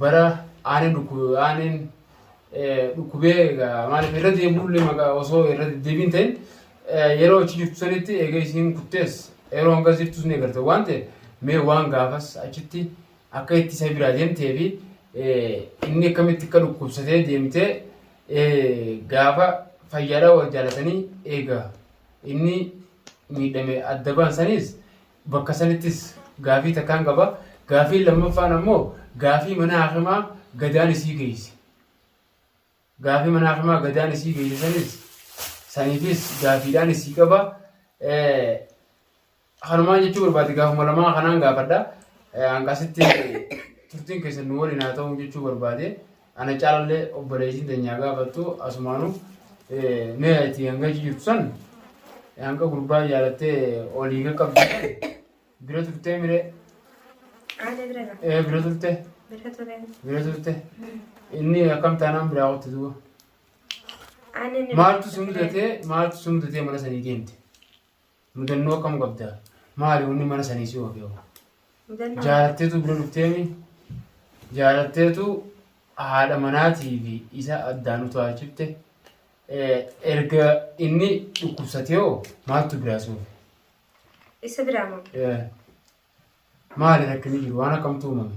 bara aaneen dhukkube aaneen dhukkubee egaa maaliif irra deebi'ullee maqaa osoo irra deddeebiin ta'in yeroo achi jirtu sanitti egaa isiin kuttees yeroo hanga jirtus ni garte waan ta'e mee waan gaafas achitti akka itti isa biraa deemtee fi inni akkamitti akka dhukkubsatee deemtee gaafa fayyaadhaa wal jaalatanii egaa inni miidhame adda baan saniis Bakka sanittis gaafii takkaan qaba. Gaafiin lammaffaan ammoo gaafii mana hakimaa gadaan isii geeyse. Gaafii mana hakimaa gadaan isii geeyse sanis saniifis gaafiidhaan isii qaba. Kanumaan jechuu barbaade gaafuma lamaa kanaan gaafadha. Hanqasitti turtiin keessan nu waliin haa ta'uu jechuu barbaade. Ana caalallee obboleeytiin teenyaa gaafattu asumaanu mee ati hanga achi jirtu san hanga gurbaa jaalattee olii qaqqabdu bira turtee miree Haadha bira ga'a. ee bira turte Bira ture. bira turte inni akkam taanaan biraa qotte duuba Ani ni- maaltu si mudatee maaltu si mudatee mana sanii deemte Mudannoo akkam qabda? Maali wanni mana sanii si oofe hoo? Mudannoo. Jaalatteetu bira dhufteemi? Jaalatteetu haadha manaatii fi isa addaan utaalchifte? Eh, Erga inni dhukkubsatee hoo maaltu biraa si oofe? Isa biraa moo? Eh, Maali rakkinni jiru? Waan akkamtu uumame?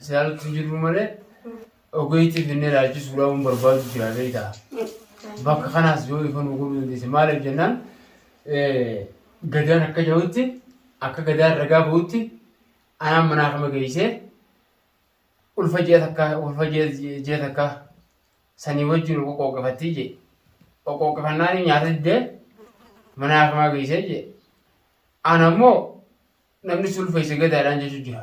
Saaltu jirru malee ogeetti finnee laalchisu dhabuun barbaadu jira beektaa. Bakka kanaas yoo ifa nu godhuu dandeesse maaliif jennaan gadaan akka jahutti akka gadaan ragaa bahutti anaan manaa kama geessee ulfa ji'a takka ulfa ji'a takka sanii wajjin qoqqooqafattii jee qoqqooqafannaan nyaata diddee manaa kama geessee jee ana immoo namni sulfeesse gadaadhaan jechuu jira.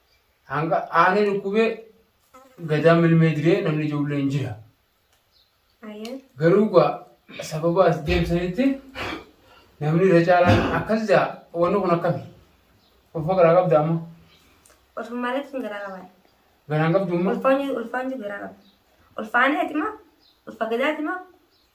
Hanga aanee dhukkubee gadaa milmee diree namni ijoollee hin jira. Ayyee. Garuu gaa sababa as deemsanitti namni irra caalaan akkas jaa wanni kun akkami? Ulfa garaa qabda amma? Ulfa malee tun garaa qabaa. Garaan qabdu amma? Ulfaan jiru ulfaan jiru garaa qaba. Ulfaan eeti maa? Ulfa gadaati maa?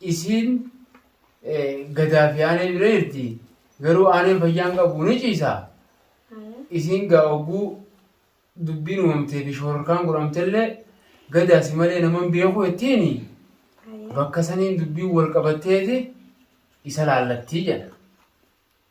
Isiin gadaa fi aanee bira jirti. Garuu aaneen fayyaan qabu ni ciisa. Isiin gaa hogguu dubbiin uumamtee fi shororkaan godhamtellee gadaa si malee naman beeku jettiini. Bakka saniin dubbiin wal qabatteeti isa laallattii jedha.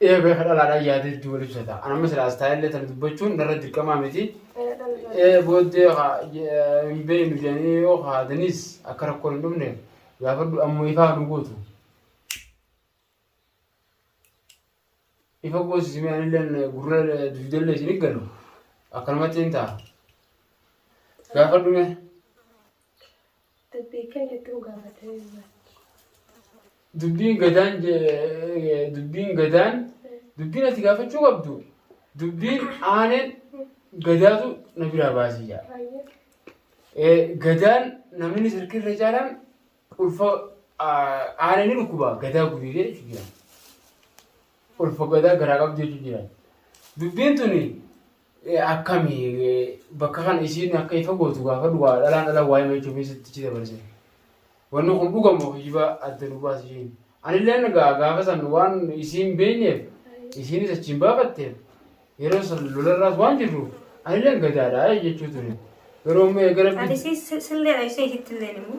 Ee beeka dhalaadhaan yaada hedduu wal ibsata. An amma silaa istaayillee tana dubbachuun narra dirqamaa miti. Ee booddee haa hin beeknu jedhanii yoo haadaniis akka rakkoon hin dhufne gaafadhu amma ifaa nu gootu. Ifa goosisi mee anilleen gurra dugdallee isin galu akkanumatti hin ta'a. Gaafadhu mee. Dubbii kee gidduu gaafatee irra. Dubbiin gadaan je- dubbiin gadaan dubbiin ati gaafachuu qabdu dubbiin aaneen gadaatu na biraa baasii jaa. Baay'ee. Eh, gadaan namni sirkirra caalaan ulfa aanee ni dhukkuba gadaa gubiidee jechuudha jira. Ulfa gadaa garaa qabdu jechuudha jira. Dubbiin tuni Akkami bakka kana isiin akka ifa gootu gaafadhu waa dhalaan dhalaan waa'ee machuu fi sittichi dabarse. Wanni kun dhuga moo kijiba adda nu baasi isheen. Anillee nagaa gaafa san waan isiin beenyeef isiinis achiin baafatteef yeroo san lolarraas waan jirruuf anillee gadaadha jechuu ture. Garuu amma eega rabbi Ani si si- sillee dha ishee ishitti illee immoo.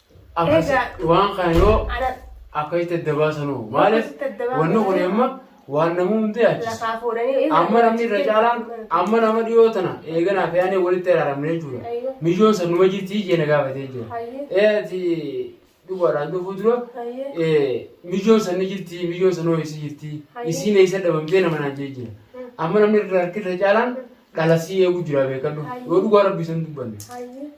Akkas Egaa- waan kana yoo Ana akka itti adda baasanu maaliif Akkasitti adda baasanu. wanni kun amma waan namuu hundi yaachisa. lafaa fuudhanii. Amma namni irra caalaan amma nama dhiyoo tana eeganaa fi aanee walitti araaramne jechuudha. Ayyo. Mijoon san numa jirti jeena gaafatee jira. Hayyee. Ee ati dhugaadhaan dhufuu dura Hayyee. ee, mijoon san ni jirti mijoon san hoo eessa jirti Hayyee. isiin eessa dhabamtee nama naan jee jira. Amma namni irra harki irra caalaan dhalasii eegu jira beekadhu. Hayyee. Yoo dhugaa rabbii san dubbanne. Hayyee.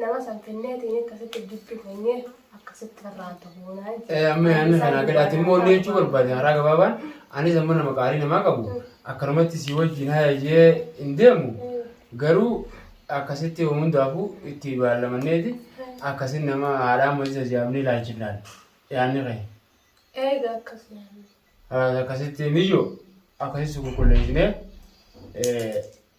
Nama san kenneetiin akkasitti jiddu keenye akkasitti farraan tokko naan jedhe. Amma yaanni kanaa gadaati immoo inni jechuu barbaade haaraa gabaabaan anis amma nama qaarii namaa qabu akkanumatti si wajjin haayajee hin deemu garuu akkasitti yoo hundaafuu itti baallamanneeti akkasin nama haadhaa ammas jajaabnee ilaalchinaan yaanni kee. Eega akkasuma. Akkasitti ni jiru akkasitti qulqulleessinee